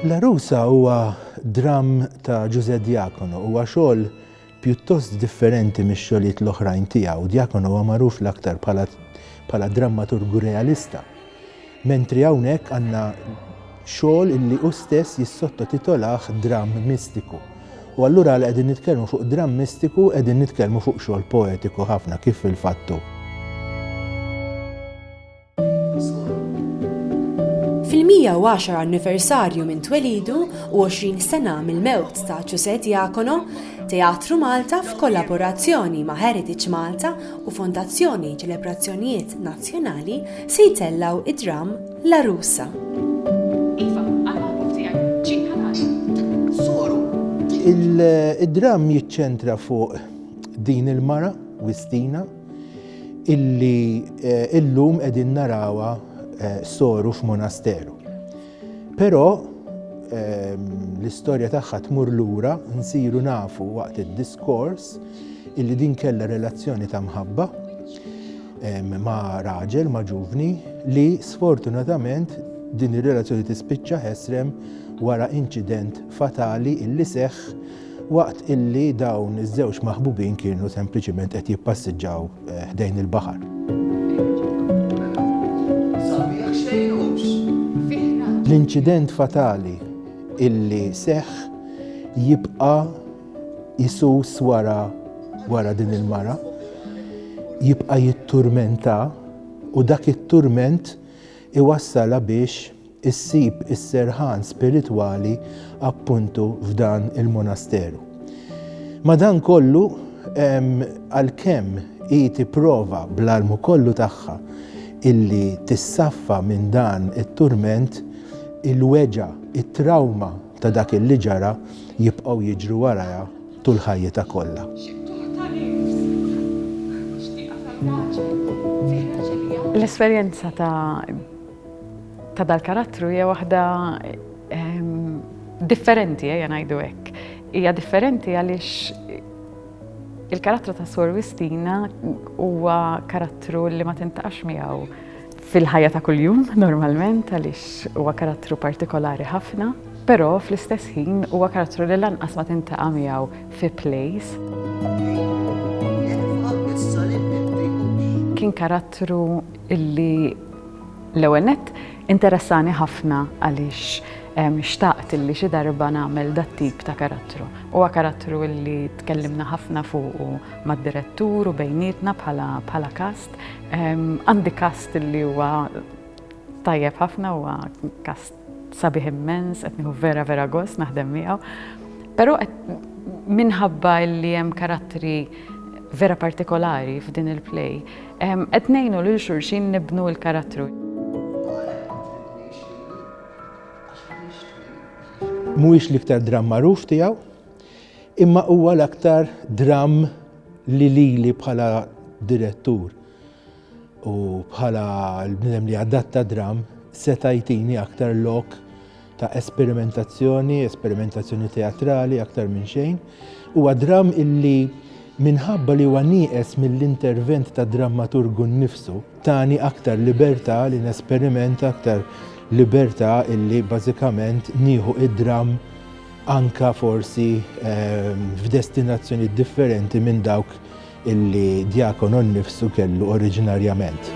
L-Għarusa huwa dramm ta' Ġużè Diacono, huwa xogħol Pjuttost differenti mix-xogħlijiet l-oħrajn tiegħu, Diacono huwa magħruf l-aktar bħala bħala drammaturgu realista, mentri hawnhekk għandna xogħol illi hu stess jissottotitolah dramm mistiku. U allura għal qegħdin nitkellmu fuq dramm mistiku qegħdin nitkellmu fuq xogħol poetiku ħafna kif fil-fattu. Fil-110 anniversarju minn twelidu u 20 sena mill-mewt ta' Ġużè Diacono, Teatru Malta f'kollaborazzjoni ma' Heritage Malta u Fondazzjoni Ċelebrazzjonijiet Nazzjonali se jtellgħu d-dramm L-Għarusa. Id-dramm jiċċentra fuq din il-mara, Wistina, illi eh, illum qegħdin narawha eh, soru f'monasteru. Però ehm, l-istorja tagħha tmur lura nsiru nafu waqt id-diskors illi din kellha relazzjoni ta' mħabba ehm, ma' raġel, ma' ġuvni, li sfortunatament din ir-relazzjoni tispiċċa ħesrem wara inċident fatali illi seħħ waqt illi dawn iż-żewġ maħbubin kienu sempliċiment qed jippassiġġaw ħdejn il-baħar. L-inċident fatali illi seħħ jibqa' jsus wara wara din il-mara, jibqa' jitturmentha u dak it-turment iwassalha biex, Issib is-serħan spiritwali appuntu f'dan il-monasteru. Madankollu, għalkemm hi tipprova bl-almu kollu tagħha illi tissaffa minn dan it-turment, il-weġgħa, it-trawma ta' dak illi ġara jibqgħu jiġru warajha tul ħajjitha kollha. L-esperjenza ta' ta' dal-karattru hija waħda differenti, ejja ngħidu hekk. Hija differenti għaliex il-karattru ta' Sor Wistina huwa karattru li ma tintaqax miegħu fil-ħajja ta' kuljum normalment għaliex huwa karattru partikolari ħafna, però fl-istess ħin huwa karattru li lanqas ma tintaqa' miegħu fi plays. Kien karattru illi L-ewwel nett, interessani ħafna għaliex xtaqt illi xi darba nagħmel dat-tip ta' karattru. Huwa karattru illi tkellimna ħafna fuqu mad-direttur u bejnietna bħala bħala kast. Għandi kast illi huwa tajjeb ħafna huwa kast Sabiħ immens, qed nieħu vera vera gost naħdem miegħu. Però minħabba li hemm karattri vera partikolari f'din il-play, qed ngħinu lil xulxin nibnu l-karattru. Mhuwiex l-iktar dramm magħruf tiegħu, imma huwa l-aktar dramm li lili bħala direttur. u bħala l-bnidem li adatta dram seta' jtini aktar lok ta' esperimentazzjoni, esperimentazzjoni teatrali aktar minn xejn. Huwa dram illi minħabba li huwa nieqes mill-intervent ta' drammaturgu nnifsu, tani aktar libertà li nesperimenta aktar libertà illi bażikament nieħu id-dram anka forsi ehm, f'destinazzjoni differenti minn dawk illi djakonu nnifsu kellu oriġinarjament.